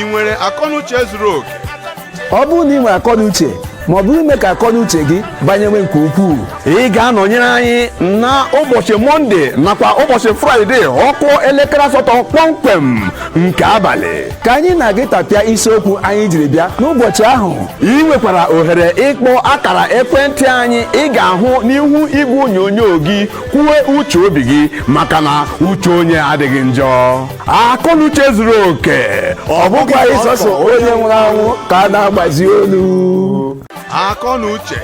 i nwere akọnuche zuru oke ọ bụrụ na i nwere akọnuche ma ọ bụ ime ka akọnuche gị banyewe nke ukwuu ị ga-anọnyere anyị na ụbọchị mọnde nakwa ụbọchị fraịde ọ kụọ elekere asatọ kpọmkwem nke abalị ka anyị na gị tapịa isiokwu anyị jiri bịa n'ụbọchị ahụ i nwekwara ohere ịkpọ akara ekwentị anyị ị ga-ahụ n'ihu igwe onyonyo gị kwuo uche obi gị maka na uche onye adịghị njọ akọnuche zuru oke ọ bụkwa sọsọ onye nwụrụ anwụ ka a na-agbazi olu akọnuche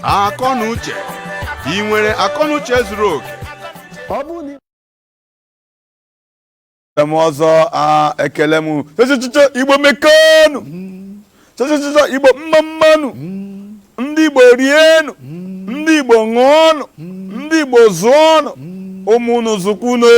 akọnuche i nwere akọnuche zuru oke ọ bụrụ na m ọzọ a ekele m chọchọchọ igbo mekanu chọchọchọchọ igbo mma mma nụ ndị igbo rienụ ndị igbo ṅụọnụ ndị igbo zụọnụ mụọnụ zụkwuonụ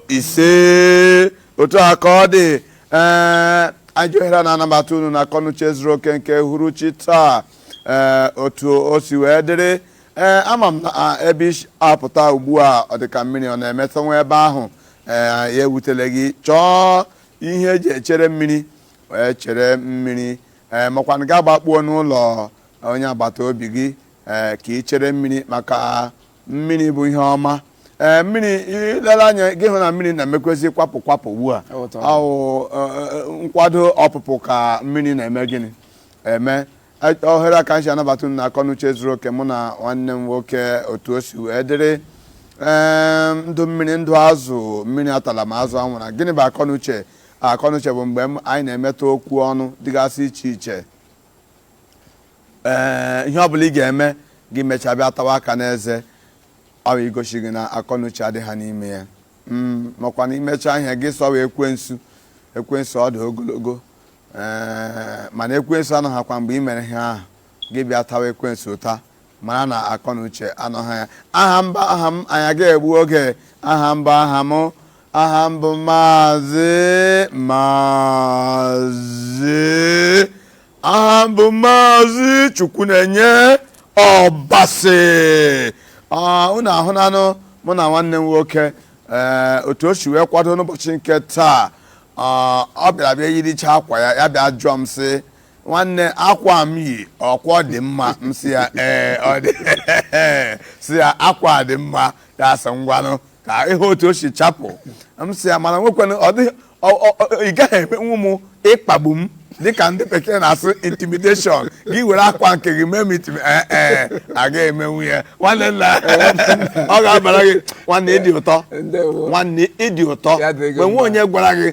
ise otu a ka ọ dị ee anyị ji ohere a na-anabata unu na akọnuche zuru oke nke uhuruchi taa ee otu o si wee dịrị ee ama m na a- ebe i si apụta ugbu a ọ dị ka mmiri ọ na-emetụ nwa ebe ahụ ee ya ewutele gị chọọ ihe e ji echere mmiri wee chere mmiri ee makwanụ gị agbakpuo n'ụlọ onye agbata obi gị ee ka i chere mmiri maka mmiri bụ ihe ọma ee mmiri i lele anya gị hụ na mmiri na-emekwezi kwapụ kwapụ ugbu a ọ wụ nkwado ọpụpụ ka mmiri na-eme gịnị eme ohere a ka m ji anabata unu na akọnuche zuru oke mụ na nwanne m nwoke otu o si wee dịrị ndụ mmiri ndụ azụ mmiri atala ma azụ anwụra gịnị bụ akọnuche Akọnuche bụ mgbe m- anyị na-emetụ okwu ọnụ dịgasị iche iche ee ihe ọ bụla ị ga-eme gị mechaa bịa tawa aka n'eze ọ bụ igosi gị na akọnuche adịha n'ime ya Mm, makwanụ i mechaa ihe gị sị ọ wụ ekwensu ekwensu ọ dị ogologo ee mana ekwensu anọhakwa mgbe i mere ihe ahụ gị bịa tawa ekwensu ụta mara na akọ na uche anọghị ya aha m bụ aha m anyị aga egbu oge aha m bụ aha m aha m bụ maazị maazị aha m bụ maazị chukwunenye ọbasị Ah, unu ahụnanụ mụ na nwanne m nwoke ee otu o si wee kwado n'ụbọchị nke taa ah, ọ bịara bịa yiricha akwa ya ya bịa jụọ m sị nwanne akwa m yi ọ kwa dị mma m sị ya ee ọ dị sị ya akwa dị mma ya asị ngwanụ ka ị hụ otu o si chapụ m sị ya mana nwekwana ọ dịghị ọ- ọ- ọ- ị gaghị emenwu m ịkpagbu m dịka ndị bekee na-asụ intimidation gị were akwa nke gị mee m intimi ee ee agaghị emenwu ya nwanne nna ọ ga-abara gị nwanne dị ụtọ ndewo nwanne dị ụtọ Ya dịrị gị mgbe nwe mma. onye gwara gị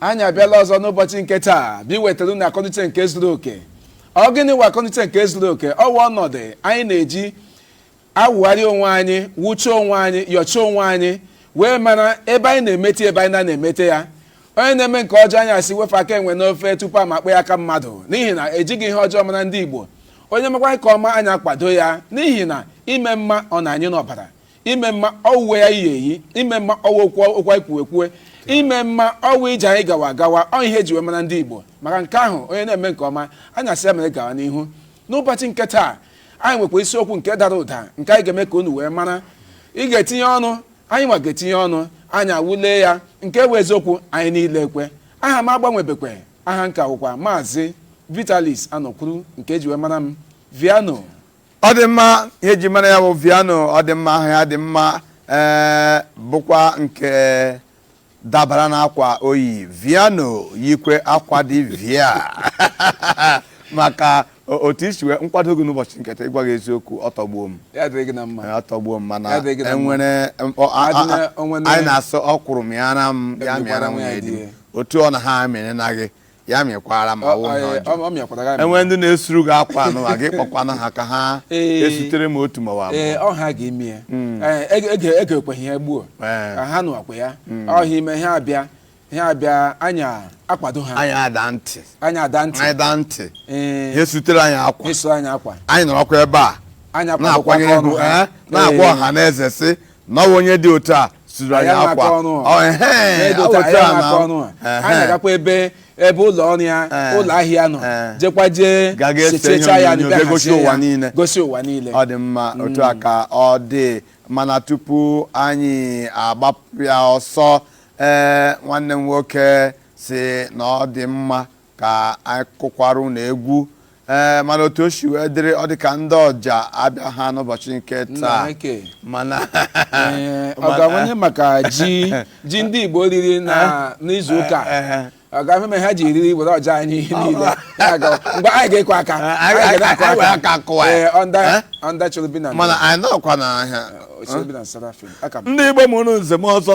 anyị abịala ọzọ n'ụbọchị nke taa bụ iwetara unu akọnuche nke zuru oke ọ gịnị wụ akọnuche nke zuru oke ọ wụ ọnọdụ anyị na-eji awụgharị onwe anyị wụchaa onwe anyị yọchaa onwe anyị wee mara ebe anyị na-emete ebe anyị na-emete ya onye na-eme nke ọjọọ anyị asị wepụ aka enwe n'ofe tupu a ma kpọọ ya aka mmadụ n'ihi na ejighị ihe ọjọọ mara ndị Igbo onye mekwaa nke ọma anyị akwado ya n'ihi na ime mma ọ nọ anyị n'ọbara ime mma ọ wụ uwe anyị yi eyi ime mma ọ wụ okwu anyị kwuwe ekwue ime mma ọ wụ ije anyị gawa agawa ọ ihe eji wee mara ndị igbo maka nke ahụ onye na-eme nke ọma anyị asị ya mere gawa n'ihu n'ụbọchị nke taa anyị nwekwara isiokwu nke dara ụda nke anyị ga-eme ka unu wee mara ị ga-etinye ọnụ anyị nwa ga-etinye ọnụ anyị awụlee ya nke bụ eziokwu anyị niile ekwe aha m agbanwebekwe aha m ka wụkwa maazị Vitalis Anọkwuru nke eji wee mara m Viano ọ dị mma ihe e ji mara ya bụ Viano ọ dị mma ahụ ya dị mma ee bụkwa nke dabara n'akwa oyi Viano yikwe akwa dị via maka o- otu i si wee kwado gị n'ụbọchị nke taa ịgwa gị eziokwu ọ tọgbuo m ya dịrị gị na mma Ee, ọ tọgbuo m mana Ya dị gị na mma. enwere mkpọ- a- a- Adịna- a- onwe na- anyị na-asị ọkwụrụ mịara m ya Emekwana mịara m nwa ya ya di di m. ya. otu ọ na ha amịrị na gị ya mịkwara m ọ wụ na ọjọọ ọ mịakwara gị amị. enwe ndị na-esuru gị akwa n'ụwa gị kpọkwanụ ha ka ha Ee. esutere m otu mụwa ee ọ ha ga-eme ya Ee, ege- ege- egekweghị ya gbuo Ee. Ka ha nụwakwa ya ọhịa ime ha abịa ha abịa anyị akwado ha anyị ada ntị anyị ada ntị anyị daa ntị ha ee esutere anyị akwa ịsụ anyị akwa anyị nọrọkwa ebe a anyị akwadokwa na-akwanye aka ọnụ egwu ha ee, na-agwa Ee. ọha na eze sị na ọ bụ onye dị otu a suru anyị Anyị akwa na-akọ ọnụ a. Ọ, ehe, N'edo ọ taa, otu ya a na- na-akọ ọnụ a. Ehe. anyị agakwa ebe ebe ụlọ ọrụ ya Eh. ụlọ ahịa nọ Eh. jekwa jee Ga ga-ese ihe sechechaa ya onyonyo, bịa bịa gosi hazie ụwa ya, niile. gosi ụwa niile ọ dị mma otu a ka ọ dị mana tupu anyị agbapụ ya ọsọ ee nwanne m nwoke sị na ọ dị mma ka anyị kụkwara unu egwu ee mana otu o si wee dịrị ọ dị ka ndị ọja abịaha n'ụbọchị nke taa mana ọ ga-awanye maka ji ji ndị Igbo riri n'izu ụka ọ ga-ahụ ma ha ji eriri were ọja anyị niile mgbe anyị ga-ekwe aka ọnda chọrọ bi na mana anyị nọkwa n'ahịa ndị Igbo mụrụ nze ma ọzọ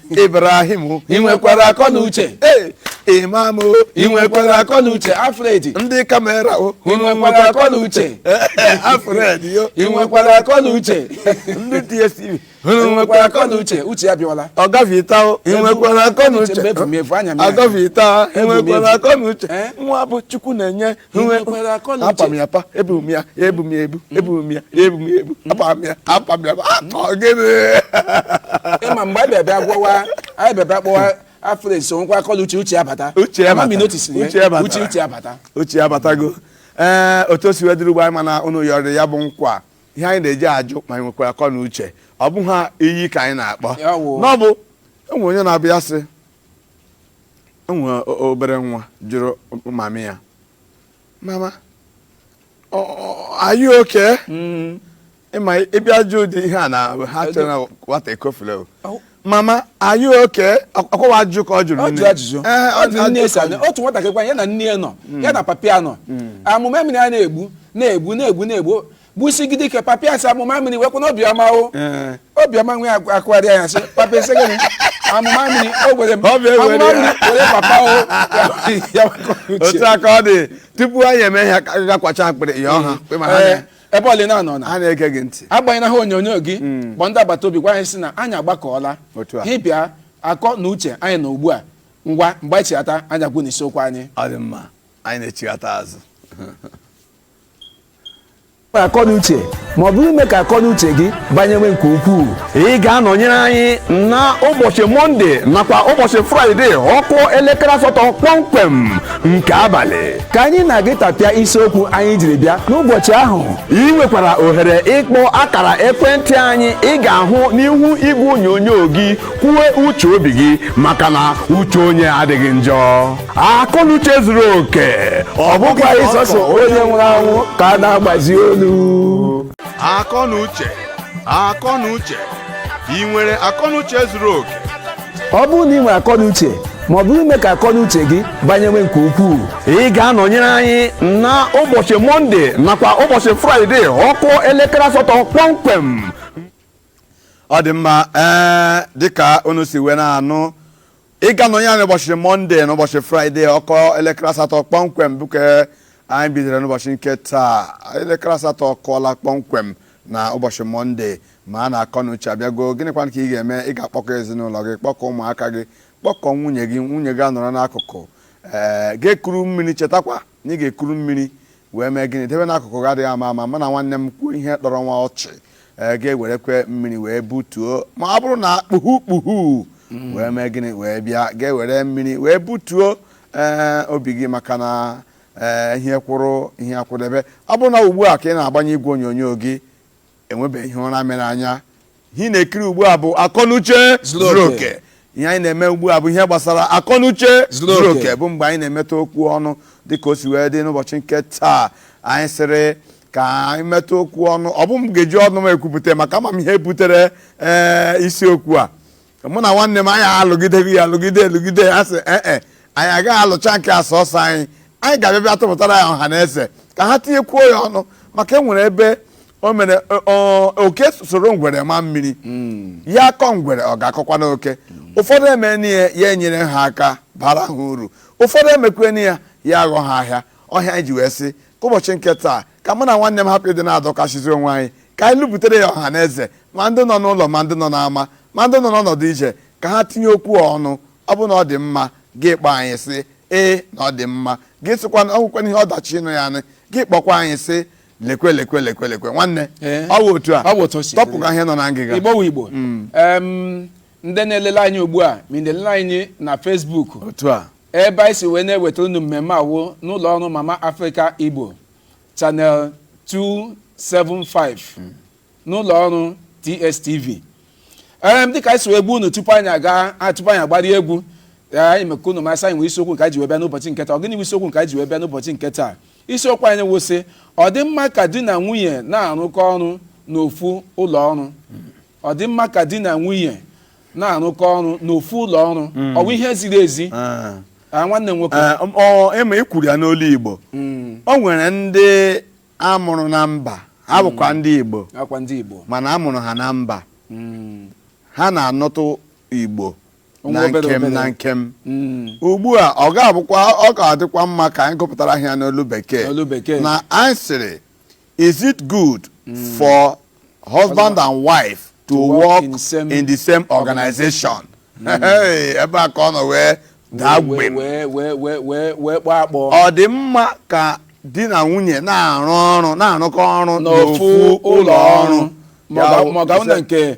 Ibrahim ị nwekwara akọ na uche Imam ị nwekwara akọ na uche Alfred ndị kamera o ị nwekwara akọ na uche Alfred yo ị nwekwara akọ na uche ndị DSTV unu nwekwara akọ na uche uche ya bịawala ọga Vita o ị nwekwara akọ na uche Mgbe efu m efu, anya m ya. ọga Vita ị Efu m nwekwara efu. akọ na uche Eh? nwa bụ Chukwu na-enye apa m ya apa ebu m ya ebu m ya ebu ebu m ya ebu m ya ebu apa m ya apa m ya apa gịnị ị ma mgbe anyị bịabịa gwawa anyị bịabịa kpọwa Alfred so nkwa akọ na uche uche abata uche abata uche abata uche abatago ee eh, otu o si wee dịrị ugbo anyị mana ụnụ yọrọ ya bụ nkwa ihe anyị na-eji ajụ ma anyị nwekwara akọ na uche ọ bụ ha iyi ka anyị na-akpọ n'ọbụ o nwee onye na-abịa sị o nwere o- obere nwa jụrụ mami ya mama ọ- ọ- are you okay Mm. ị ma ị bịa jụ ụdị ihe a na ha chere na nwata ekofula o. Ọ- mama are you okay ọkwa ajụ ka ọ jụrụ ọ nne. jụrụ ajụjụ Ee, ọ jụrụ nne esi ajụ. anụ otu nwatakịrị kwa ya na nne ya nọ ya na papa ya nọ amụma mmiri a na-egbu na-egbu na-egbu na-egbu gbusigide ike papa ya sị amụma mmiri wekwa na obiọma o Ee. obiọma nwe akụ- akụgharịa ya sị papa ị sị gịnị amụma mmiri o gwere m Ọ bụ ewere amụma ya. mmiri were papa o ya wekwa uche. otu a ka ọ dị tupu anyị eme ihe ka ga kwacha akpịrị ya ọha kpe ma ha Ee, na- ebe ọlị na-anọ na ha na-ege gị ntị agbanyela ihe onyonyo gị kpọ ndị agbata obi gwa anyị sị na anyị agbakọọla Otu a. ha bịa akọ na uche anyị na ugbu a ngwa mgbe anyị chighata anyị agwa unu isiokwu anyị ọ dị mma anyị na-echighata azụ akọnuche ma ọ bụ ime ka akọnuche gị banyewe nke ukwuu ị ga-anọnyere anyị na ụbọchị mọnde nakwa ụbọchị fraịde ọ kụọ elekere asatọ kpọmkwem nke abalị ka anyị na gị tapịa isiokwu anyị jiri bịa n'ụbọchị ahụ ị nwekwara ohere ịkpọ akara ekwentị anyị ị ga-ahụ n'ihu igwe onyonyo gị kwuo uche obi gị maka na uche onye adịghị njọ akọnuche zuru oke ọ bụkwaghị sọsọ onye nwụrụ anwụ ka a na-agbazi olu akọnuche akọnuche ị nwere akọnuche zuru oke ọ bụrụ na ị nwere akọnuche ma ọ bụ ime ka akọnuche gị banyewe nke ukwuu ị ga-anọnyere anyị na ụbọchị mọnde nakwa ụbọchị fraịde ọ kụọ elekere asatọ kpọmkwem ọ dị mma ee dịka unu si wee na-anụ ị ga-anọnyere anyị ụbọchị mọnde na ụbọchị fraịde ọ kụọ elekere asatọ kpọmkwem bụ nke anyị bidoro n'ụbọchị nke taa elekere asatọ akụọla kpọmkwem na ụbọchị mọnde mara na akọ na uche abịago gịnịkwa ka ị ga-eme ị ga-akpọkọ ezinụlọ gị kpọkọ ụmụaka gị kpọkọ nwunye gị nwunye gị anọrọ n'akụkụ ee ga-ekuru mmiri chetakwa Na ị ga-ekuru mmiri wee mee gịnị? Debe n'akụkụ gị adịghị ama ama. Mana nwanne m kwuo ihe tọrọ nwa ọchị, ee, ga-ewerekwa mmiri wee butuo. Ma ọ bụrụ na kpuhu kpuhu wee mee gịnị? Wee bịa, ga-ewere mmiri wee butuo ee, obi gị maka na ee, ihe kwụrụ ihe akwụdebe. Ọ bụrụ na ugbu a ka ị na-agbanye igwe onyonyo gị, enwebeghị ihe ụra mere anya ihe ị na-ekiri ugbu a bụ akọnuche zuru oke ihe anyị na-eme ugbu a bụ ihe gbasara akọnuche zuru oke bụ mgbe anyị na-emetụ okwu ọnụ dịka o si wee dị n'ụbọchị nke taa anyị sịrị ka anyị metụ okwu ọnụ ọ bụ m ga-eji ọnụ m ekwupụta maka ama m ihe butere ee isiokwu a mụ na nwanne m anyị alụgidere ya alụgide alụgide ya sị ee e anyị agaghị alụcha nke a sọsọ anyị anyị ga-abịa bịa tụpụtara ya ọha na eze ka ha tinyekwuo ya ọnụ maka e nwere ebe o mere oke soro ngwere maa mmiri hmm. ya akọ ngwere ọ ga-akọkwanụ oke ụfọdụ emeni ya ya enyere ha aka bara ha uru ụfọdụ emekweni ya ya aghọ ha ahịa ọ ya anyị ji wee sị ka ụbọchị nke taa ka mụ na nwanne m hapụ ịdị na-adọkasịzi onwe anyị ka anyị lụpụtere ya ọha na eze ma ndị nọ n'ụlọ ma ndị nọ n'ama ma ndị nọ n'ọnọdụ ije ka ha tinye okwu ọnụ ọ bụ na ọ dị mma gị kpọ anyị sị ee na ọ dị mma gị sịkwa na ọgwụkwana ihe ọdachi ịnụ ya anị gị kpọkwa anyị sị lekwe lekwe lekwe lekwe nwanne ọ bụ otu a tọpụga ihe nọ na ngịga Igbo mm. ndị na-elele anyị ugbu a ma na-elele anyị na Facebook ebe anyị si wee na-ewetara unu mmemme a wụ n'ụlọ ọrụ Mama Africa Igbo channel 275 n'ụlọ ọrụ tstv ee dịka anyị si wee gwa unu tupu anyị aga a- tupu anyị agbari egwu ee, anyị mee ka unu ma sị anyị nwee isiokwu nke anyị ji wee bịa n'ụbọchị nke taa ọ gịnị bụ isiokwu nke anyị ji wee bịa n'ụbọchị nke taa isiokwu anyị wụ sị ọ dị mma ka di na nwunye na-arụkọ ọrụ n'ofu ụlọ ọrụ ọ dị mma ka di na nwunye na-arụkọ ọrụ n'ofu ụlọ ọrụ hmm. ọ bụ ihe ziri ezi ah. Ah, nwanne nwoke ah, ị ma i kwuru ya n'olu Igbo hmm. o nwere ndị a mụrụ na mba ha hmm. bụkwa ndị Igbo mana a mụrụ ha na mba ha na-anụtụ Igbo na nkem na nkem ugbu a ọ ga-abụkwa ọ ga-adịkwa mma ka anyị gụpụtara ha ya n'olu bekee na anyị sịrị Is it good for husband and wife to work in same- in the same organization? Hey, ebe a ka ọ nọ wee daa gbem wee kpọọ akpọ Ọ dị mma ka di na nwunye na-arụ ọrụ na-arụkọ ọrụ n'ofu ụlọ ọrụ maọbụ maọbụ na nke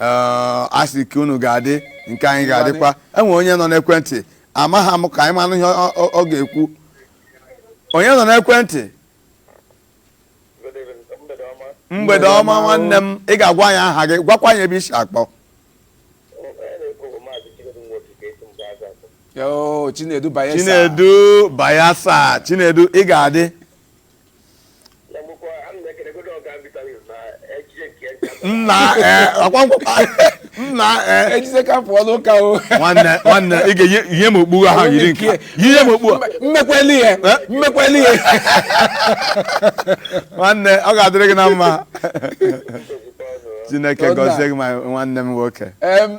ee a sị ka unu ga-adị nke anyị ga-adịkwa e nwee onye nọ n'ekwentị amaghị m ka anyị manụ ihe ọ- ọ ọ ga-ekwu onye nọ n'ekwentị mgbede ọma nwanne m ị ga-agwa anyị aha gị gwakwa anyị ebe i si akpọ Yoo, Chinedu Bayelsa. Chinedu ị ga-adị nna ee ọkwa nkwụkwa nna ee ejise ka pụọ n'ụka o nwanne nwanne ị ga-enye m okpu ahụ yiri nke a. nye m okpu a mmekweli ihe Eh? mmekweli ihe nwanne ọ ga-adịrị gị na mma chineke Ọ na- gọzie gị ma nwanne m nwoke Em,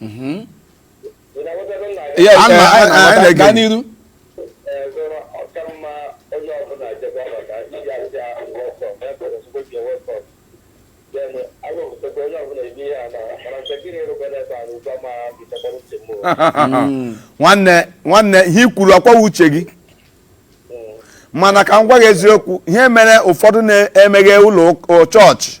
Mhm. Ya, Ana- eh, anyị ana- na-aghọta. anyị Gaa na-ege. n'iru nwanne nwanne ihe i kwuru ọkwa ọwụ uche gị mana ka m gwa gị eziokwu ihe mere ụfọdụ na-emeghe ụlọ ụk- chọọchị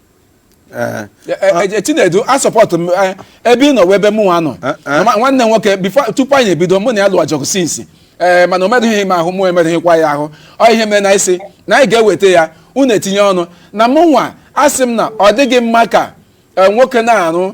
Eh, E- e- e- chinedu a sọpọtụ m eh, ebe ị nọ wụ ebe mụ nwa nọ Eh, eh. Ma- nwanne m nwoke before tupu anyị ebido mụ na ya lụwa ọgụ since ee mana o merụghị m ahụ mụ emerụghịkwa ya ahụ ọ ihe mere na-asị na anyị ga-eweta ya unu etinye ọnụ na mụ nwa asị m na ọ dịghị mma ka eh, nwoke na-arụ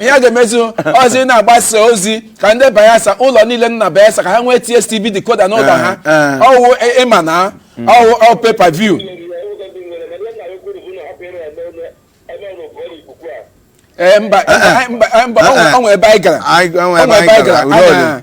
ihe a ga-emezu ozi na-agbasa ozi ka ndị bayelsa ụlọ niile nọ na bayelsa ka ha nwee tstv decoder n'ụlọ ha ọwụ ịma na ọwụ ọ pay per view ee mba mba ọ nwere ebe anyị gara ọ nwere ebe anyị gara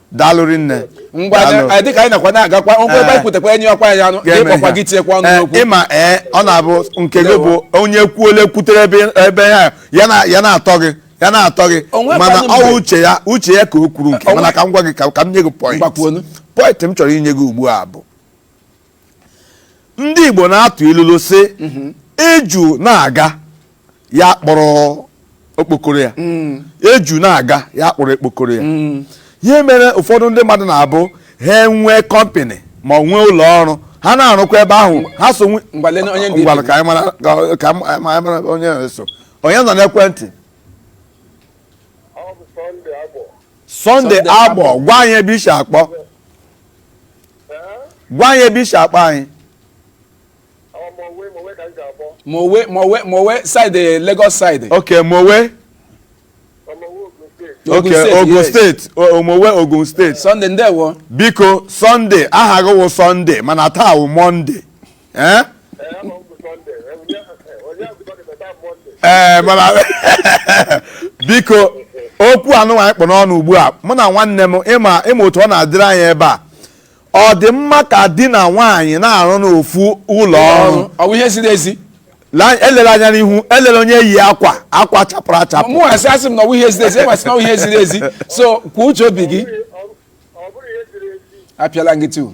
daalụ rinne ngwa Daalụ. anyị dịka anyị nakwa na-agakwa ngwa ebe Eh. anyị kwutekwa enyi ọkwa anyị anụ Ga-eme ịkpọkwa ihe. gị tinyekwa ọnụ Eh, n'okwu ịma ee ọ na-abụ nke gị bụ onye kwuole kwutere ebe ebe ya ya na- ya na-atọ gị ya na-atọ gị O nwekwanụ mana mgbe- ọwụ uche ya uche ya ka o kwuru nke O nwe- mana ka m gwa gị ka ka m nye gị point Ngwa kwuonụ. point m chọrọ inye gị ugbu a bụ ndị igbo na-atụ ilulu sị eju na-aga ya kpọrọ okpokoro ya eju na-aga ya kpọrọ okpokoro ya ihe mere ụfọdụ ndị mmadụ na-abụ ha enwee company ma ọ nwee ụlọ ọrụ ha na-arụkwa ebe ahụ ha so nwe- Ngwa lee onye ndị Ngwanụ, ka anyị mara- ka- ka anyị mara onye na-eso onye nọ n'ekwentị Ọ bụ Sunday Agbọ. sunday Sunday agbọ Agbor. gwa anyị ebe i si akpọ gwa anyị ebe i si akpọ anyị mowe mowe mowe side eh, lagos side ok mowe ok ogun state o mowe ogun state sunday ndewo biko sunday aha gị wụ sunday mana taa wụ monday ee ee mana biko okwu anụnwa anyị kpụ n'ọnụ ugbu a mụ na nwanne m ịma ịma otu ọ na-adịrị anyị ebe a ọ dị mma ka di na nwaanyị na-arụ n'ofu ụlọ ọrụ ọ bụ ihe ziri ezi La- elela anya n'ihu elela onye yi akwa akwa chapụrụ achapụ mụ asị asị m na ọ bụ ihe ziri ezi ị ma sị na ọ bụ ihe ziri ezi so kwuo uche obi gị ọ bụrụ ihe ziri ezi apịala m gị tu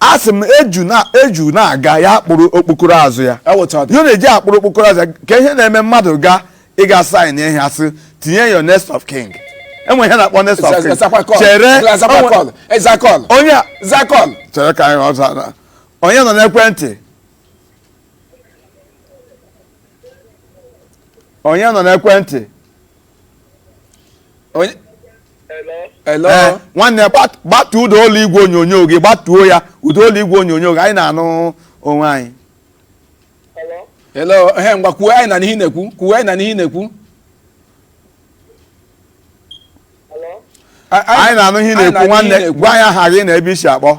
a sị m eju na eju na-aga ya akpụrụ okpokoro azụ ya Eweta ọ dị. ya na-eji akpụrụ okpokoro azụ ya ka ihe na-eme mmadụ ga ịga sign ihe a sị tinye your next of kin e nwe ihe a na-akpọ next of kin Zakwa call. chere Zakwa onwe- call. Eh, Zaa call. onye a- Zaa call. chere ka anyị zaa na- onye nọ n'ekwentị onye nọ n'ekwentị onye hello ee nwanne gbat- gbatuo ụda olu igwe onyonyo gị gbatuo ya ụda olu igwe onyonyo gị anyị na-anụ onwe anyị hello ehe ngwa kwuo anyị na-anụ ihe ị na-ekwu kwuo anyị na-anụ ihe ị na-ekwu A- anyị na-anụ ihe ị anyị na-ekwu nwanne gwa anyị aha gị na ebe i si akpọ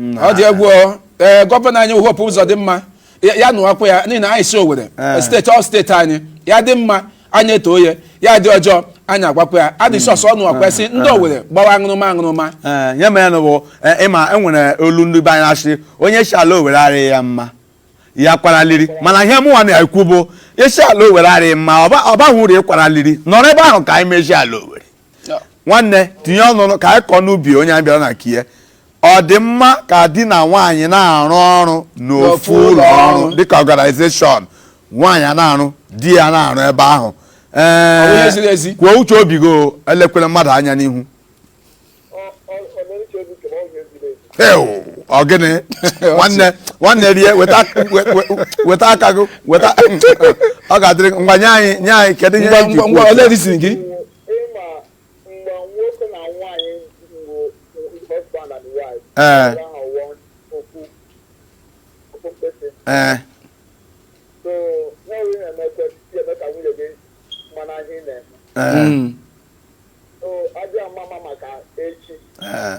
ọ dị egwu o. ee gọvanọ anyị Hope Uzodimma ya ya nụwakwa ya n'ihi na anyị si owere Ee. steeti ọ steeti anyị ya dị mma anyị etoo ya ya dị ọjọọ anyị agwakwa ya adị sọsọ ọ nụwakwa ya sị ndị owere gbawa aṅụrụma aṅụrụma Ee, ya mere na bụ eh, ịma e nwere olu ndị be anyị a sị onye sị ala owere arịghị ya mma ya kwara liri mana ihe mụnwa na-ekwu bụ ị sị ala owere arịghị mma ọ ba- ọ baghị uru ị kwara liri nọrọ ebe ahụ ka anyị mezie ala owere nwanne tinye ọnụ ka anyị kọọ n'ubi onye anyị bịara na nke ya ọ dị mma ka di na nwaanyị na-arụ ọrụ n'ofu ụlọ ọrụ dịka organization nwaanyị a na-arụ di ya na-arụ ebe ahụ ee kwuo uche obi gị elekwela mmadụ anya n'ihu ọ gịnị nwanne nwanne rie weta aka gị weta ọ ga-adịrị ngwa nye anyị nye anyị kedu ihe ngwa ngwa ngwa ole disi gị ee ee ee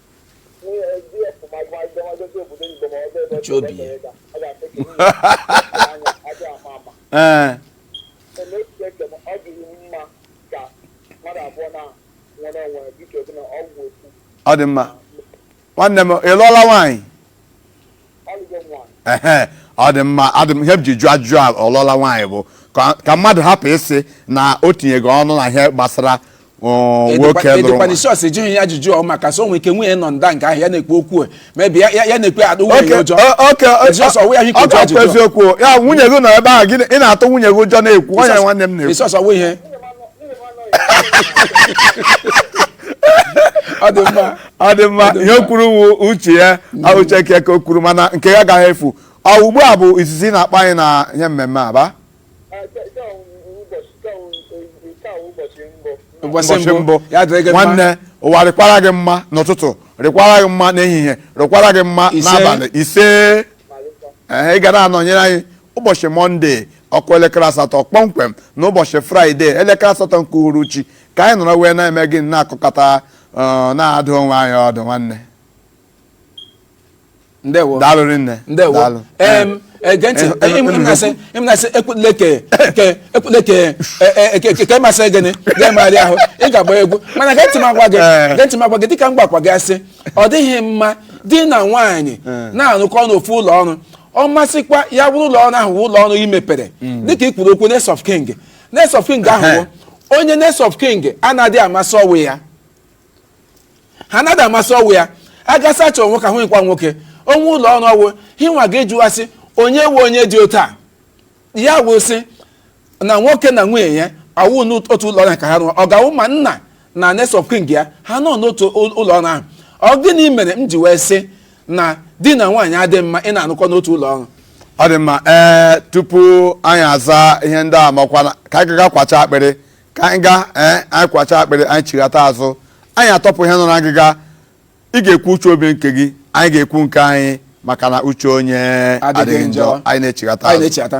Uche obi ya. ee ọ dị mma nwanne m ị lụọla nwaanyị ọ dị mma ihe m ji jụọ ajụjụ a ọ lụọla nwaanyị bụ ka mmadụ hapụ ịsị na o tinyego ọnụ na ihe gbasara nwoke lụrụ edekwana isi ọsị jụghị ya ajụjụ ọ maka so nwere ike nwunye nọ nda nke ahụ ya na-ekwu okwu e. maybe ya na-ekwu atụ nwunye ya ụjọ ọkụ eziokwu ya nwunye gị nọ ebe ahụ gị ị na-atụ nwunye gị ụjọ na-ekwu onye nwanne m na-ekwu isọsọ nwe ihe ọ dị mma ọ dị mma ihe o kwuru wu uche ya uche nke ka o kwuru mana nke ya agaghị efu ọ ugbu a bụ izizi ị na-akpọ anyị na ihe mmemme a ba ụbọchị ụbọchị mbụ mbụ ya dịrị gị mma nwanne ụwa rịkwara gị mma n'ụtụtụ rịkwara gị mma n'ehihie rịkwara gị mma Ise. n'abalị ise ee ị ga na-anọnyere anyị ụbọchị mọnde ọ kụọ elekere asatọ kpọmkwem na ụbọchị fraịde elekere asatọ nke uhuruchi ka anyị nọrọ wee na-eme gị na-akụkọta na-adụ onwe anyị ọdụ nwanne ndewo daalụ rinne ndewo daalụ em ege ntị Eh, eh, ị ma na asị ị ma na asị ekwutule ke ke ekwutule ke eh, eh, ke- ke- ke masị gị ị ga-emegharị ahụ ị ga-agba egwu mana gee ntị m agwa gị Eh. gee ntị m agwa gị dịka m gwakwa gị sị ọ dịghị mma di na nwaanyị na-arụkọ n'ofu ụlọ ọrụ ọ masịkwa ya bụrụ ụlọ ọrụ ahụ bụ ụlọ ọrụ i mepere dịka i kwuru okwu next of kin next of kin ahụ bụ onye next of kin anaghị ama sị ọ wụ ya ha anaghị ama sị ọ wụ ya a ga-asị chọọ nwoke ahụ nkwa nwoke nwe ụlọ ọrụ ọ wụ hinwa ga-ajụwa sị onye wụ onye dị otu a ya wụ sị na nwoke na nwunye ya awụ n'otu ụlọ ọrụ ka ha rụọ ọ ga-awụ ma nna na next of kin ya ha nọ n'otu ụ- ụlọ ọrụ ahụ ọ gịnị mere m ji wee sị na di na nwaanyị adịghị mma ịna-anọkọ n'otu ụlọ ọrụ ọ dị mma ee tupu anyị aza ihe ndị a makwana ka anyị gaa kwacha akpịrị ka anyị gaa ee anyị kwacha akpịrị anyị chighata azụ anyị atọpụ ihe nọ na ngịga ị ga-ekwu uche obi nke gị anyị ga-ekwu nke anyị maka na uche onye Adịghị adịghị njọ njọ. anyị na-echighata anyị azụ na-echeta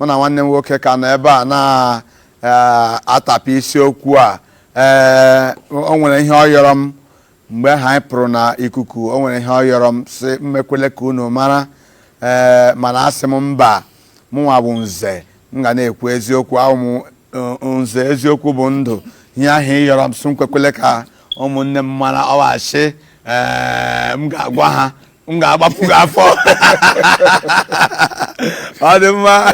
mụ na nwanne m nwoke ka nọ ebe a na-atapụ isiokwu a ee o nwere ihe ọ yọrọ m mgbe ahụ anyị pụrụ na ikuku o nwere ihe ọ yọrọ m sị m mekwele ka unu mara ee mana asị m mba mụnwa bụ nze m ga na-ekwu eziokwu awụ m nze eziokwu bụ ndụ ihe ahụ ị yọrọ m sị m kwekwele ka ụmụnne m mara ọ wụ asị ee m ga-agwa ha m ga-agbapụ gị afọ ọ dị mma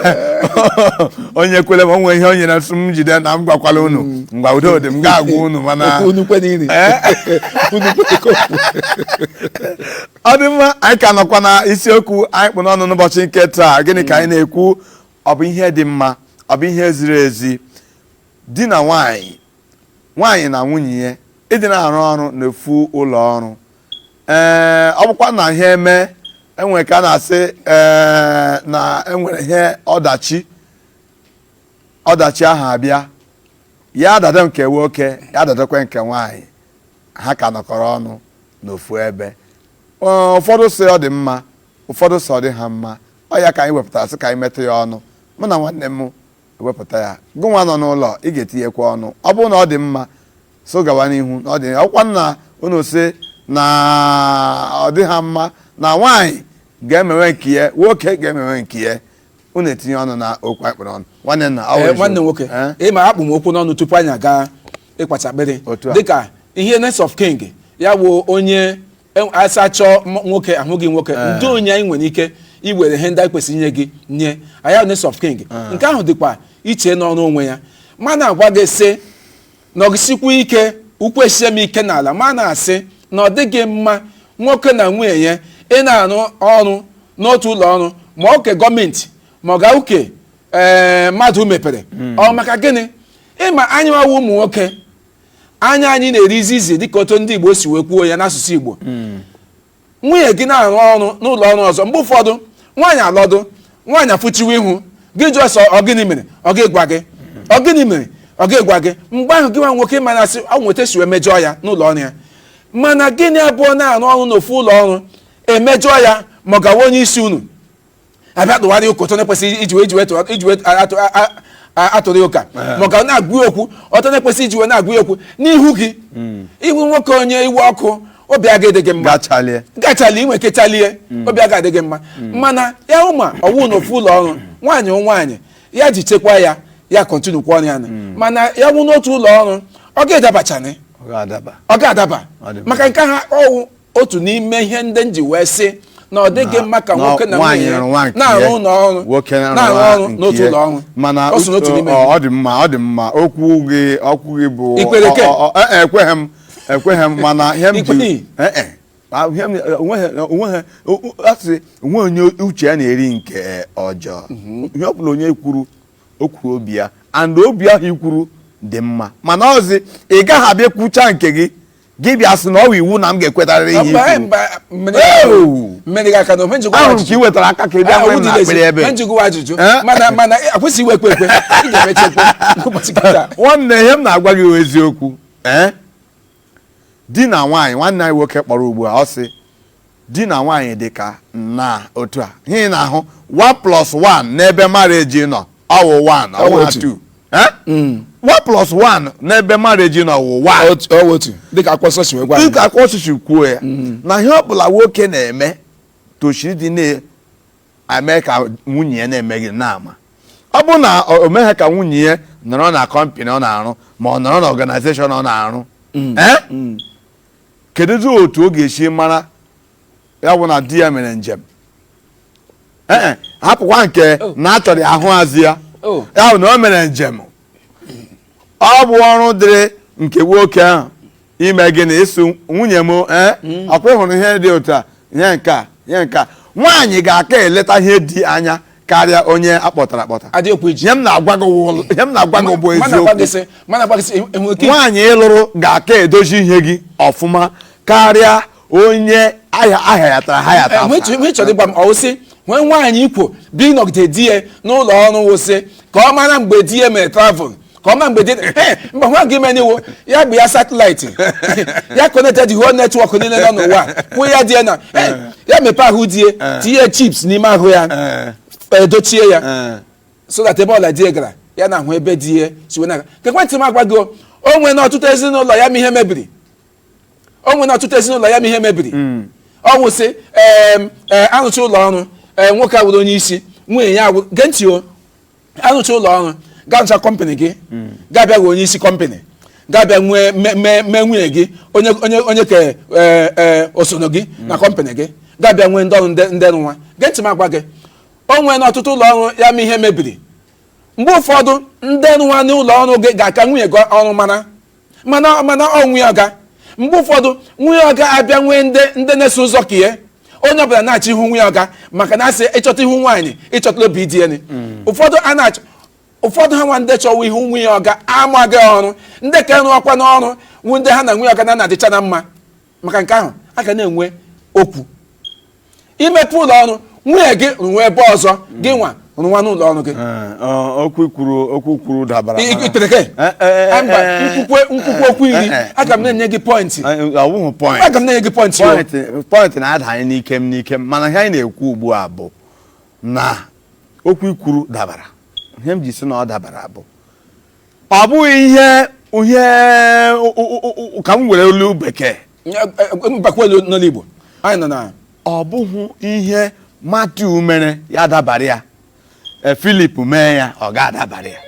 o nyekwele m o nwee ihe o nyere m sị m jide na m gwakwala unu ngwa udo dị m ga-agwa unu mana Okwu unu kwe n'iri. Eh? Unu kwe ka okwu. ọ dị mma anyị ka nọkwa na isiokwu anyị kpụ n'ọnụ n'ụbọchị nke taa gịnị ka anyị na-ekwu ọ bụ ihe dị mma ọ bụ ihe ziri ezi di na nwanyị nwanyị na nwunye ya ịdị na-arụ ọrụ n'ofu ụlọ ọrụ ee ọ bụkwa na ihe eme enwere ka a na-asị ee na enwere ihe ọdachi ọdachi ahụ abịa ya adada nke nwoke ya adadakwa nke nwaanyị ha ka nọkọrọ ọnụ n'ofu ebe Ọ, ụfọdụ sị ọ dị mma ụfọdụ sị ọ dịha mma ọ ya ka anyị wepụtara sị ka anyị metụ ya ọnụ mụ na nwanne m ewepụta ya gụnwa nọ n'ụlọ ị ga-etinyekwa ọnụ ọ bụrụ na ọ dị mma sị ọ gawa n'ihu na ọ dị ọkwa na unu sị na ọ dịha mma na nwaanyị ga-emewe nke ya nwoke ga-emewe nke ya unu etinye ọnụ na okwu anyị kpụ n'ọnụ nwanne nna ọ Ee, bụ nwanne eziokwu. nwoke Eh? ị ma akpụ m okwu n'ọnụ tupu anyị aga ịkwacha akpịrị Otu a. dịka ihe next of kin ya bụ onye E- asị achọọ m- nwoke ahụghị nwoke ndee onye anyị nwere ike iwere ihe ndị anyị kwesịrị inye gị nye ọ ya wụ next of kin nke ahụ dịkwa iche n'ọrụ onwe ya ma na-agwa gị sị nọgisikwu ike ụkwụ esie m ike n'ala ma na-asị na ọ dịghị mma nwoke na nwunye ya ị na-arụ ọrụ n'otu ụlọ ọrụ ma ọ nke gọọmenti ma ọ ga wụ nke ee mmadụ mepere ọ maka gịnị ị ma anyị nwa wụ ụmụ nwoke anya anyị na-eri izizi dịka otu ndị Igbo si wee kwuo ya n'asụsụ Igbo hmm. nwunye gị na-arụ ọrụ n'ụlọ ọrụ ọzọ mgbe ụfọdụ nwaanyị alọdụ nwaanyị afụchiwe ihu gị jụọ sị ọ gịnị mere ọ gaghị agwa gị ọ gịnị mere ọ gaghị agwa gị mgbe ahụ gị nwa nwoke mana asị o nwe otu e si wee mejọọ ya n'ụlọ ọrụ ya mana gị na ya abụọ na-arụ ọrụ n'ofu ụlọ ọrụ emejọọ ya ma ọ ga wụ onye isi unu abịa tụwara ya ụka otu ọ na-ekwesịghị iji wee jiwe iji wee atụrụ ya ụka ma ọ ga na-agwa ya okwu otu ọ na-ekwesịghị iji wee na-agwa ya okwu n'ihu gị hmm. ị wụ nwoke onye iwe ọkụ obi aga adị gị mma ị ga-achalie i nwe ike chalie hmm. obi aga adị gị mma hmm. mana ya wụ ma ọ wụ na ofu ụlọ ọrụ nwaanyị nwaanyị ya ji chekwa ya ya continue kwa ọrụ ya na mana ya bụ n'otu ụlọ ọrụ ọ ga-adabachani ọ ga-adaba maka nke ahụ wụ otu n'ime ihe ndị m ji wee sị na ọ dịghị mma ka nwoke na nwunye ya na-arụ ụlọ ọrụ na-arụ ọrụ n'otu ụlọ ọrụ mana ọ so n'otu n'ime ọ dị mma ọ dị mma okwu gị okwu gị bụ I kwere ke? ọ- ọ- ọ- e- ekweghị m ekweghị m mana ihe m ji I kweghị? e- e. A- ihe m- onweghị onweghị o- o- asị onwe onye uche ya na-eri nke ọjọọ ihe ọ bụla onye kwuru o kwuru obi ya and obi ahụ i kwuru dị mma mana ọzi ị gaghị abịa kwucha nke gị gị bịa sị na ọ bụ iwu na m ga-ekwetarịrị ihe Mba, ikwu mba, mmeri Ewu! mmeri ga-aka na ofe njikwa ahụrụ m ka ị wetara aka ka ị bịa nwee m n'akpịrị ebe a. njikwa ajụjụ Eh? mana mana akwụsị iwe ekwe ekwe ị ga-emecha ekwe ụbọchị kịta nwanne ihe m na-agwa gị bụ eziokwu ee di na nwaanyị nwanne anyị nwoke kpọrọ ugbu a ọ sị di na nwaanyị dị ka na otu a ihe ị na-ahụ 1 plus 1 n'ebe marriage nọ ọwụ 1 ọwụ Ọwụ ha otu. 2 Eh? 1 plus 1 n'ebe marriage nọ wụ 1 Otu- ọ wụ otu dịka akwụkwọ nsọ si wee gwa anyị. dịka akwụkwọ nsọ si kwuo ya na ihe ọbụla nwoke na-eme toshiri ịdị na-eme ka nwunye ya na-eme gịnị na-ama ọ bụrụ na o o meghị ka nwunye ya nọrọ na kọmpanị ọ na-arụ ma ọ nọrọ na ọganizeshọn ọ na-arụ Eh? kedụzi otu ọ ga-esi mara ya bụ na di ya mere njem ee hapụkwa nke oh. na achọrọ ahụ azụ ya oh. ya bụ na o mere njem ọ bụ ọrụ dịrị nke nwoke ahụ ime gịnị ịsị nwunye m ee eh? hmm. ọkwa ị hụrụ ihe dị otu a ihe nke a ihe nke a nwaanyị ga-aka eleta ihe di anya karịa onye akpọtara akpọta eziokwu eji ihe m na-agwa gị wụ- ihe m na-agwa gị bụ m na-agwa gị eziokwu sị m na-agwa gị sị enwere ike nwaanyị ị lụrụ ga-aka edozi ihe gị ọfụma karịa onye a haya a hayatara ahayata enwe chọ- enwe chọrọ ịgwa m ọwụ sị nwee nwaanyị ikwo bi nọgide di ya n'ụlọ ọrụ wụsị ka ọ mara mgbe di ya mere travel ka ọ mara mgbe di mba nwa gị menye iwu ya bụ ya satịlaịtị ya konektị the whole netwọk niile nọ n'ụwa kwụ ya di ya na eh, ya mepe ahụ di ya tinye chips n'ime ahụ ya Eh, edochie ya eh. so that ebe ọbụla di ya gara ya na-ahụ ebe di ya si wee na-aga gee ntị m agwa gị o, o nwere n'ọtụtụ ezinụlọ ya ma ihe mebiri o nwere n'ọtụtụ ezinụlọ ya ma ihe mebiri ọ wụsị em, eh, arụcha ụlọ ọrụ eh, nwoke awụrụ onye isi nwunye ya awụrụ gee ntị o arụcha ụlọ ọrụ ga-arụcha kọmpanị gị ga-abịa gị onye isi kọmpanị ga-abịa nwee me- me- mee nwunye gị onye onye onye nke eh, eh, osoro gị na kọmpanị gị ga-abịa nwee ndị ọrụ ndị ndị rụwa gee ntị m agwa gị o nweena ọtụtụ ụlọ ọrụ ya ma ihe mebiri mgbe ụfọdụ ndị rụwa n'ụlọ ọrụ gị ga-aka nwunye gị ọrụ mara mana mana ọ nwunye ọga mgbe ụfọdụ nwunye ọga abịa nwee ndị ndị na-eso ụzọ ka ihe onye ọbụla na-achọ ihu nwunye ọga maka na a sị ị chọta ihu nwaanyị ị chọtala obi di ya ụfọdụ a na-achọ ụfọdụ ha nwa ndị chọwa ihu nwunye ọga amaghị ọrụ ndị ka eru ọkwa n'ọrụ wụ ndị ha na nwunye ọga na na-adịcha na mma maka nke ahụ a ga na-enwe okwu i mepe ụlọ ọrụ nwunye gị rụwa ebe ọzọ gị nwa rụwa n'ụlọ ọrụ gị Eh, ọ- okwu i kwuru okwu i kwuru dabara I- mana- i- tere gị? Eh, eh, Ah, mba eh, nkwukwe nkwukwe okwu iri eh, eh. aga m na-enye gị pọịntị Eh, ọ wụghụ point. aga m na-enye gị pọịntị o. Point- point na-adanye n'ike m n'ike m mana ihe anyị na-ekwu ugbu a bụ na okwu i kwuru dabara ihe m ji sị na ọ dabara bụ ọ bụghị ihe ihe ka m were olu bekee mbakwelu n'olu Igbo anyị nọ na ọ bụghị ihe Matiu mere ya dabara ya e, Filip mee ya ọ ga-adabara ya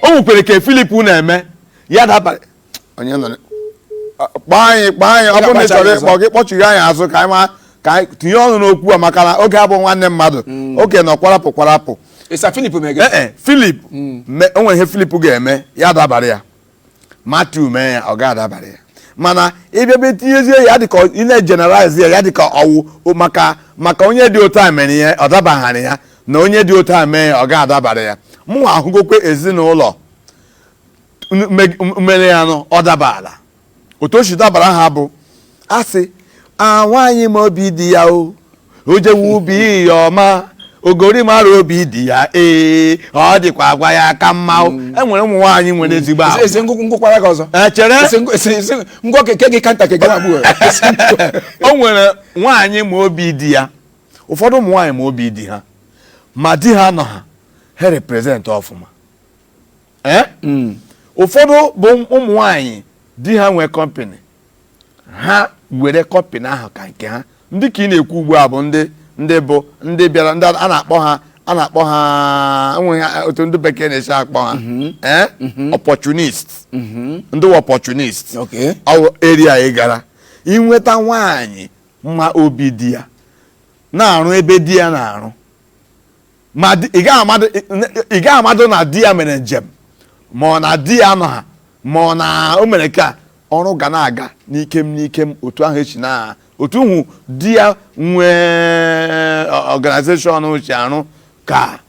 o nwekwere ke Filip na-eme ya dabara onye nọ kpọọ anyị kpọọ anyị ọ bụrụ na ị chọrọ ịkpọ gị kpọchiri anyị azụ ka anyị tinye ọnụ n'okwu a maka na oge abụ nwanne mmadụ mm. oge nọ kwarapụ kwarapụ ịsa filip mege ee e, filip hmm. o nwere ihe filip ga-eme ya dabara ya Matiu mee ya ọ ga-adabara ya mana ịbịa be tinyezie ya dịka ị na-ejeneralize ya ya dịka ọ wụ maka maka onye dị otu a mere ihe ọ dabaghara ya na onye dị otu a mee ya ọ ga-adabara ya mụnwa ahụgokwe ezinụlọ mere ya nụ ọ dabara otu o si dabara ha bụ a sị na nwaanyị ma obi di ya o jewe ubi ya ọma ogori mara obi di ya ee ọ dịkwa agwa ya aka mma o mm. e nwere ụmụ nwaanyị nwere mm. ezigbo ahụ ese ngwụkwụ ngwụkwara gị ọzọ echere ngwọ keke gị kanta keke na-agbụ o nwere nwaanyị ma obi di ya ụfọdụ ụmụ nwaanyị ma obi di ha ma di ha nọ ha ha represent ọfụma ee hmm. ụfọdụ bụ ụmụ nwanyị di ha nwee kọmpanị ha were kọmpanị ahụ ka nke ha ndị ke ị na-ekwu ugbu a bụ ndị ndị bụ ndị bịara ndị a na-akpọ ha a na-akpọ ha enweghị otu ndị bekee na-esi akpọ ha mhm. ee mhm. opportunist mhm. ndị opportunist ọ wụ rare ị gara inweta nwaanyị ma obi di ya na-arụ ebe di ya na-arụ ma di- ị gaghị amadụ ị gaghị amadụ na di ya mere njem ma ọ na di ya nọ ha ma ọ na o mere ka ọrụ ga na-aga n'ikem n'ikem otu ahụ esi na otu hụ di ya nwee organization uche arụ ka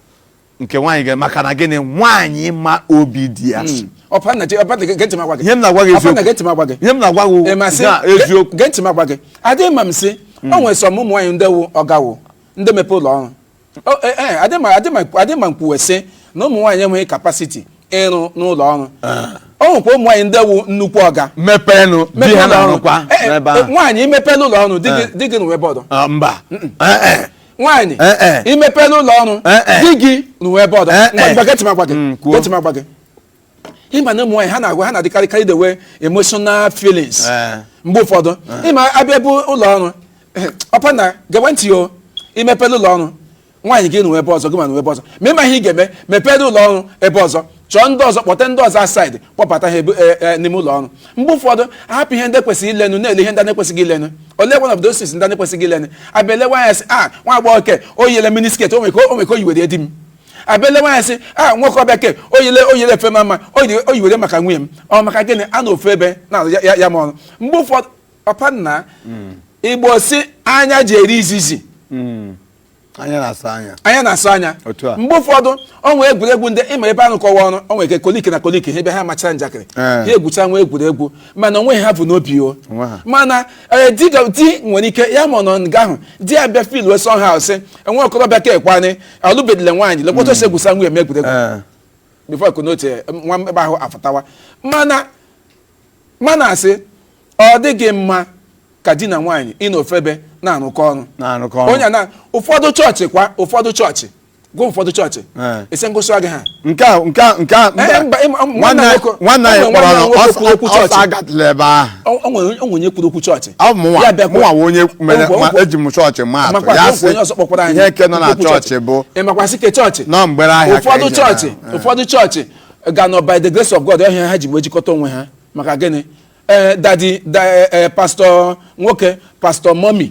nke nwaanyị ga maka na gịnị nwaanyị ma obi di ya si. ọpa nna ji ọpa nna gee ntị m agwa gị ihe m na-agwa gị ọpa nna eziokwu gee ntị m agwa gị ihe m na-agwa gị Ị ma sị, na eziokwu gee ntị m agwa gị adịghị ma m sị o nwere some ụmụ nwaanyị ndị wụ ọga wụ ndị mepe ụlọ ọrụ adị ma m kwuwe sị na ụmụ nwaanyị enweghị capacity ịrụ n'ụlọ ọrụ o nwekwa ụmụ nwaanyị ndị wụ nnukwu ọga mepenụ di ha na-arụkwa n'ebe ahụ nwaanyị ị mepela ụlọ ọrụ di gị rụwe ebe ọdọ mba nwaanyị ị mepela ụlọ ọrụ di gị rụwe ebe ọdọ gwa gị ị ma na ụmụ nwaanyị ha na-agwa ha na-adịkarịkarị enwe emotional feelings Eh. mgbe ụfọdụ ịma abịa bụ ụlọ ọrụ ọpa nna gewe ntị o ị mepere ụlọ ọrụ nwaanyị gị rụwa ebe ọzọ gị ma rụwa ebe ọzọ ma ị ma ihe ị ga-eme mepere ụlọ ọrụ ebe ọzọ chọọ ndị ọzọ kpọta ndị ọzọ outside kpọbata ha ebu- e- e- n'ime ụlọ ọrụ mgbe ụfọdụ ahapụ ihe ndị kwesịrị ilenu na-ele ihe ndị na-ekwesịghị ilenu ole one of those things ndị na-ekwesịghị ilenu abịa elewa anya sị a nwa agbọghọ ke o yele mini skirt o nwere ka o- o nwere ka o yiwere di m abịala nwaanyị sị a nwoke ọbịa ke oyile oyile efe mara mma o yiwere maka nwunye m ọ maka gịnị a nọ ofu ebe na ya ya ma ọrụ mgbe ụfọdụ papa nna Igbo sị anya ji eri izizi anya na-asọ anya anya na-asọ anya Otu a. mgbe ụfọdụ ọ nwee egwuregwu ndị ịma ebe a rụkọwa ọrụ o nwere ike colleague na colleague ha ebe ha machara njakịrị Ee. ha egwucha nwa egwuregwu mana o nweghị ha bu n'obi o Onwe ha. mana ee, di ga- di nwere ike ya ma ọ nọ nga ahụ di ya bịa feelwe somehow sị nwa okorobịa ka ekwanị alụbedile nwaanyị lekwa otu o si egwusa nwunye m egwuregwu Eh, before konote nwa ebe ahụ afụtawa mana mana a sị ọ dịghị mma ka di na nwaanyị ịnọ ofu ebe na-arụkọ ọrụ na-arụkọ ọrụ. onye na ụfọdụ chọọchị kwa ụfọdụ chọọchị kwa ụfọdụ chọọchị Eh. ị sị m gụsị gị ha nke a nke a nke a Eh, mba, ịma- nwanne nwanne anyị nwoke- nwanne anyị nwanne kpọrọ nwoke kwuru okwu ọsọ chọọchị. agatụla ebe ahụ o nwere onye kwuru okwu chọọchị mụnwa onye mere ma eji m chọọchị ma atụ ya sị ihe nke nọ na chọọchị bụ ị makwa sị ke chọọchị nọ mgbere ahịa ụfọdụ chọọchị ụfọdụ chọọchị ga nọ by the grace of God ọ ihe ha ji wee jikọta onwe ha maka gịnị ee eh, dadi eh, eh, pastọ nwoke pastọ mọmi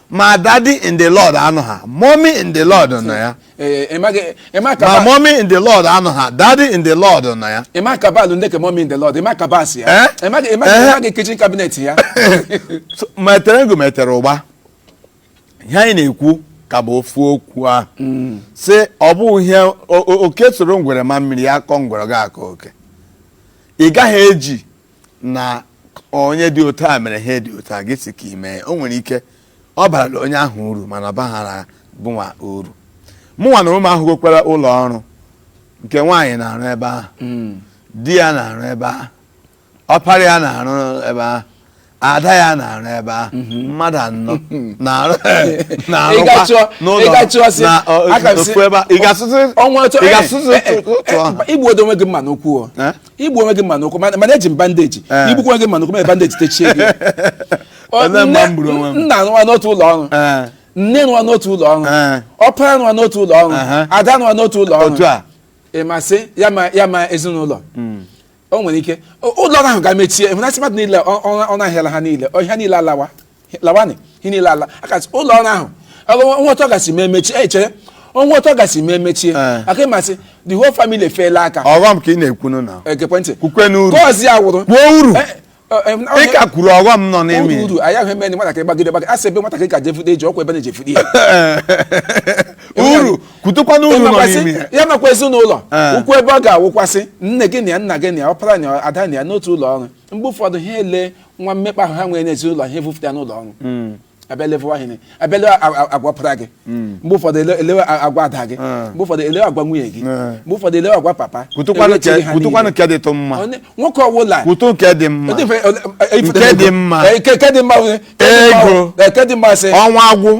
ma daddy in the lord anọha mommy in the lord nọ ya Ee, ị maghị- ị ma ka ma ba- mommy in the lord anọha daddy in the lord nọ ya ị ma cabal ndị ke mommy in the lord ị ma cabals ya Eh? ị maghị- ị maghị- ị Eh? maghị kitchen cabinet ya So, metere ego metere ụgba ihe anyị na-ekwu ka bụ ofu okwu ahụ sị ọ bụ ihe o- o- oke soro ngwere maa mmiri ya kọọ ngwere ọ ga-akọ oke ị gaghị eji na onye dị otu a mere ihe dị otu a gị sị ka ị mee o nwere ike ọ barala onye ahụ uru mana ọ baghara gịnwa uru mụnwa n'onwe m ahụgokwara ụlọ ọrụ nke nwaanyị na-arụ ebe ahụ Mm. di ya na-arụ ebe ahụ ọpara ya na-arụ ebe ahụ ada ya na-arụ ebe ahụ mmadụ anọ na-arụ na-arụkwa ịgachụọ n'ụlọ ịgachụọ sị na ọ- aka m sị ofu ebe ahụ. ị ga-asụsụ ọnwa otu ị ga-asụsụ otu ahụ igbu odo onwe gị mma n'ụkwụ o Eh? igbu onwe gị mma n'ụkwụ mana mana eji m bandage Eh. igbukwa onwe gị mma n'ụkwụ were bandage techie gị Ọ- Ebe mma nne- m gburu onwe m. nna rụwa n'otu ụlọ ọrụ Ee, nne rụwa n'otu ụlọ ọrụ Eh. ọpara rụwa n'otu ụlọ ọrụ Aha. ada rụwa n'otu ụlọ ọrụ otu a ị ma sị ya ma ya ma ezinụlọ o nwere ike o- ụlọ ọrụ ahụ ga-emechie ị hụna sị mmadụ niile ọ- ọ- ọ na-ahịala ha niile ọha niile alawa lawanị ihe niile ala ka a sị ụlọ ọrụ ahụ ọgụ- o nwee otu ọ ga-esi mee mechie e chere o nwee otu ọ ga-esi mee mechie Eh. aka ị ma sị the whole family efeela aka ọghọm ka ị na-ekwunu na-egekwa ntị kwukwanụ uru gọọzi ya wụrụ kwuo uru Eh, eh, em, ị ka kwuru ọghọm nọ n'ime uru ya. uru anyị ahụ eme na nwatakịrị gbagide gbagide asị ebe nwatakịrị ka jefude eji ọkwa ebe na-ejefude ya uru kwutukwanụ uru nọ Ị makwa sị, n'ime ya. ya makwa ezinụlọ Eh. ukwu ebe ọ ga-awụkwa sị nne gị nọ ya nna gị nọ ya ọpara nọ ya, ada nọ ya n'otu ụlọ ọrụ mgbe ụfọdụ ha ele nwa mmekpa ahụ ha nwere n'ezinụlọ ha evufụta n'ụlọ ọrụ hmm. abịa lee agwa ọpara gị hmm. mgbe ụfọdụ elewe agwa ada gị hmm. mgbe ụfọdụ elewe agwa nwunye gị mgbe ụfọdụ elewe agwa papa kwutụkwanụ nke dị tụ mma nwoke ọwụla kwutụ nke dị mma nke dị mma ego ọnwa agwụ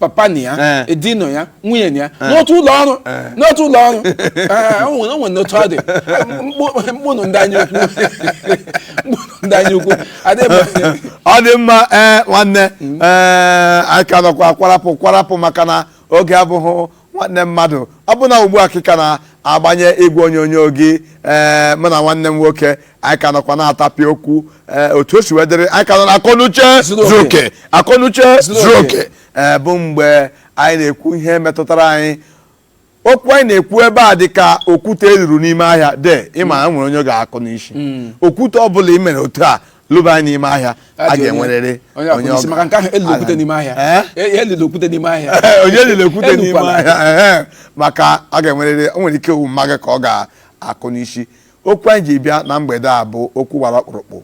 papa nọ ya Eh. di nọ ya nwunye nọ ya n'otu ụlọ ọrụ n'otu ụlọ ọrụ Eh, o nwere o nwere n'otu ọ dị Mkpụ- mkpụnụ ndị anya ukwu mkpụnụ ndị anya ukwu adịghị m anya ọ dị mma ee nwanne ee anyị ka nọkwa kwarapụ kwarapụ maka na oge abụghị nwanne mmadụ ọ bụ na ugbu a ka ị ka na-agbanye igwe onyonyo gị ee eh, mụ na nwanne m nwoke anyị ka nọkwa na-atapị okwu ee eh, otu o si wee dịrị anyị ka nọ na akọnuche zuru oke akọnuche zuru oke ee eh, bụ mgbe anyị na-ekwu ihe metụtara anyị okwu anyị na-ekwu ebe a dị ka okwute e luru n'ime ahịa de ịma na nwere onye ga-akụ n'isi hmm. okwute ọ bụla i mere otu a lubanye n'ime ahịa a ga-enwerịrị onye onye ọbụla maka nke ahụ elule okwute n'ime ahịa Eh? E- elule okwute n'ime ahịa Ee, onye elule okwute n'ime Elukwala. ahịa ehe, maka a ga-enwerịrị o nwere ike ọ wụ mama gị ka ọ ga-akụ n'isi okwu anyị ji bịa na mgbede a bụ okwu gbara ọkpụrụkpụ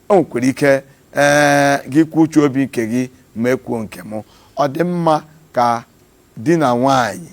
o nwekwara ike ee gị kwuo uche obi nke gị mụ ekwuo nke m ọ dị mma ka di na nwaanyị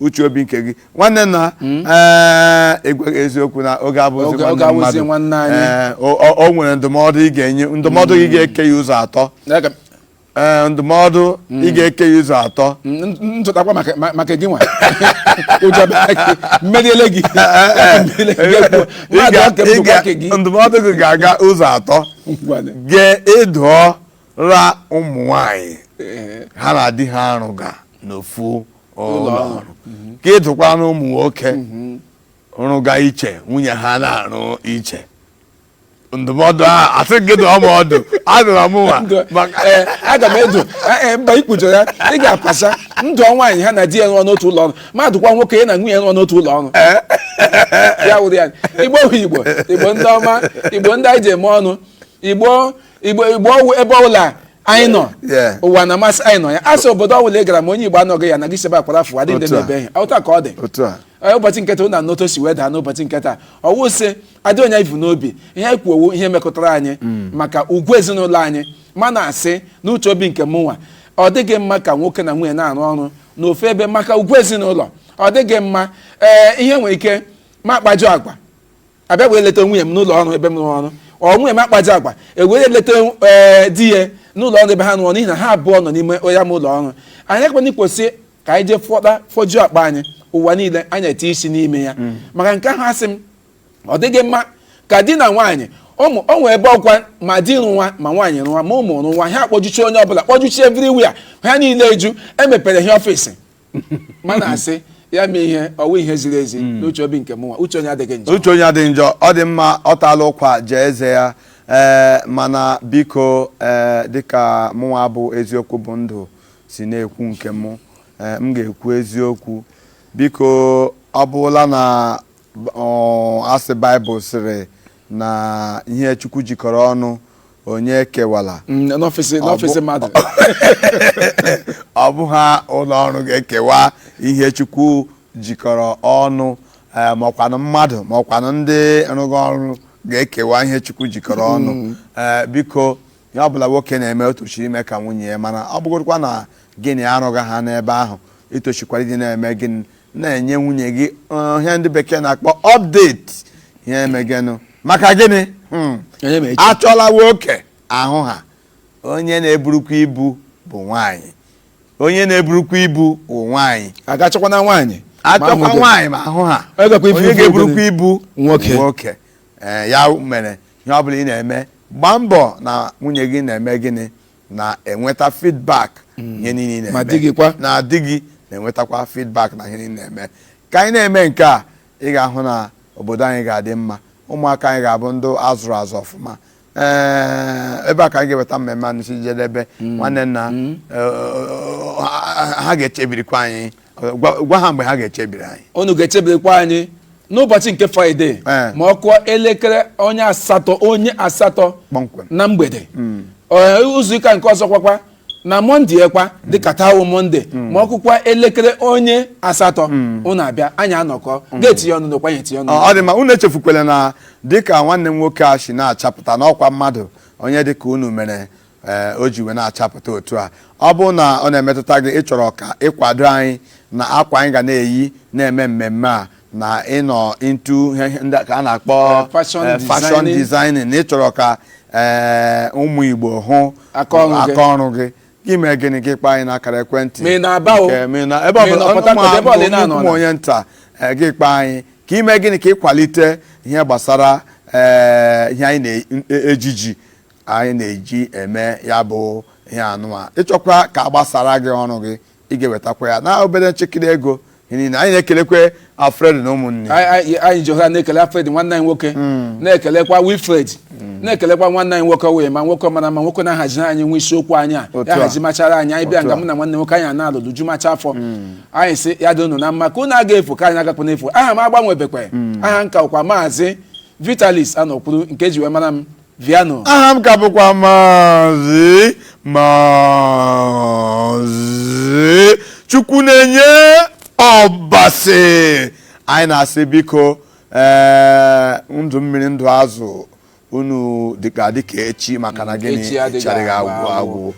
uche obi nke gị nwanne na hmm? eh, agwa gị eziokwu na oge abụzi nwanne mmadụ eh, o nwere ndụmọdụ ị ga-enye ndụmọdụ gị hmm. ga-eke ya ụzọ atọ eh, ndụmọdụ ị hmm. ga-eke ya ụzọ atọ nchọtakwa maka gị nwa mmeriele gị ndụmọdụ gị ga-aga ụzọ atọ ga-adụọra ụmụ nwanyị ha na di ha arụga n'ofu ụlọ ọrụ ka ị dụkwara ụmụ nwoke rụga iche nwunye ha na-arụ iche ndụmọdụ a asị gị dụọ m ọdụ adụra m nwa Ndụ- maka ee, aga m adụ ee, ee, mba ikpujo ya ị ga-apasa ndụ nwaanyị ha na di ya nọ n'otu ụlọ ọrụ ma dụkwa nwoke ya na nwunye ya nọ n'otu ụlọ ọrụ ya wụrụ ya igbo bụ igbo igbo ndị ọma igbo ndị anyị ji eme ọnụ igbo igbo igbo ọwụ ebe ọbụla anyị nọ Yeah. ụwa na-amasị anyị nọ ya asị obodo ọbụla ị gara ma onye igbo anọghị ya na gị si ebe a kwara fụ adị ndị Otu a. na-ebe ihe ọta ka ọ dị otu a Ee, ụbọchị nke taa ụna n'otu o si wee daa n'ụbọchị nke taa ọwụ sị adị onye ivu n'obi ihe anyị kwuo wụ ihe metụtara anyị maka ugwu ezinụlọ anyị ma na-asị n'uche obi nke mụnwa ọ dịghị mma ka nwoke na nwunye na-arụ ọrụ n'ofu ebe maka ugwu ezinụlọ ọ dịghị mma ee ihe nwere ike ma akpajọ agwa abịa wee leta nwunye m n'ụlọ ọrụ ebe m rụrụ ọrụ ọ nwunye m akpa ajọ agwa ewere leta ee di ya n'ụlọ ọrụ ebe ha rụrụ n'ihi na ha abụọ nọ n'ime ya ma ụlọ ọrụ anyị ekwenye kwesị ka anyị jee fọta fọjuo akpa anyị ụwa niile anyị eti isi n'ime ya maka nke ahụ asị m ọ dịghị mma ka di na nwaanyị ụmụ o nwee ebe ọkwa ma di rụwa ma nwaanyị rụwa ma ụmụ rụwa ha akpọjuchi onye ọbụla kpọjuchi everywhere ha niile eju emepere ha ọfịs mana asị ya mee ihe ọ wụ ihe ziri ezi hmm. n'uche obi nke mụnwa uche onye adịghị njọ uche onye adịghị njọ ọ dị mma ọ taala ụkwa jee eze ya ee eh, mana biko ee eh, dịka mụnwa bụ eziokwu bụ ndụ si na-ekwu nke mụ eh, m ga-ekwu eziokwu biko ọ bụla na asị baịbụl sịrị na ihe chukwu jikọrọ ọnụ onye ekewala Mm, n'ọfịs n'ọfịs mmadụ ọ bụha ụlọ ọrụ ga-ekewa ihe chukwu jikọrọ ọnụ eh, maọkwanụ mmadụ maọkwanụ ndị rụga ọrụ ga-ekewa ihe chukwu jikọrọ ọnụ Eh, biko Ihe ọ bụla nwoke na-eme o toshiri ime ka nwunye ya mara ọ bụgodukwa na gị na ya arụgaha n'ebe ahụ i toshikwara ịdị na-eme gịnị na-enye nwunye gị eh, ihe ndị bekee na-akpọ update ihe emegenụ maka gịnị Hmm. Onye ma echi. achọla nwoke ahụha onye na-eburukwa ibu bụ nwaanyị onye na-eburukwa ibu bụ nwaanyị a ga-achọkwa na nwaanyị ma achọkwa ahụ dị. nwaanyị ma ahụha Ọ gakwa ibu onye ibu ga-eburukwa obodo. ibu Nwoke. nwoke ee ya mere ihe ọ bụla ị na-eme gbaa mbọ na nwunye gị na-eme gịnị na-enweta feedback ihe niile ị na-eme Ma di gị kwa? na di gị na-enwetakwa feedback na ihe niile ị na-eme ka anyị na-eme nke a ị ga-ahụ na obodo anyị ga-adị mma ụmụaka anyị ga-abụ ndị azụrụ azụ ọfụma ee ebe a ka anyị ga-eweta mmemme a n'isi njedebe nwanne nna eh, ha- ha ga-echebirikwa anyị gwa gwa ha mgbe ha ga-echebiri anyị unu ga-echebirikwa anyị n'ụbọchị nke fraịde Ee. ma ọ kụọ elekere onye asatọ onye asatọ Kpọmkwem. na mgbede Ee, izu ụka nke ọzọ kwakwa na mọnde kwa dịka taa wụ mọnde ma ọ kụkwa elekere onye asatọ unu abịa anyị anọkọ gị etinye ọnụ n'okwu anyị etinye ọnụ Ọ ọ dị mma unu echefukwala na dịka nwanne m nwoke a si na-achapụta n'ọkwa mmadụ onye dịka unu mere ee, o ji wee na-achapụta otu a ọ bụrụ na ọ na-emetụta gị ị chọrọ ka ị kwado anyị na akwa anyị ga na-eyi na-eme mmemme a na ị nọ into ihe- ihe ndị ka a na-akpọ Eh, fashion eh, fashion designing. designing na ị chọrọ ka eh, ụmụ Igbo hụ Aka ọrụ gị. aka ọrụ gị gị mee gịnị gị kpọọ anyị n'akara ekwentị Ma ị na-aba o. Nke- ma ị na- ebe Ma ị ọbụla nọ Port Harcourt, ebe ọbụla ị na-anọ ụmụ na. onye nta eh, gị kpọọ anyị ka i mee gịnị ka ị kwalite ihe gbasara eh, ihe anyị na-ejiji anyị na-eji eme ya bụ ihe anụwa ị chọkwa ka a gbasaara gị ọrụ gị ị ga-ewetakwa ya na obere chịkịrị ego n'ihi na anyị na-ekelekwe Alfred na ụmụnne ya. Anyị- anyị anyị ji ohere a na-ekele Alfred nwanne anyị nwoke na-ekelekwa Wilfred na-ekelekwa nwanne anyị nwoke wee ma nwoke mara mma nwoke na-ahaziri anyị nwe isiokwu anyị a Otu ya a. hazimachara anyị anyị bịa Otu nga a. mụ na nwanne nwoke anyị a na-alụlụ jumacha afọ anyị sị ya dị unu na mma ka unu aga efu ka anyị agakwa n'efu aha m agbanwebekwe aha m ka bụkwa maazị Vitalis Anokwuru nke e ji wee mara m Viano aha m ka bụkwa maazị maazị Chukwunenye Ọbasi anyị na-asị biko ee ndụ mmiri ndụ azụ unu dịka dịka echi maka na gịnị Echi adịghị agwụ agwụ.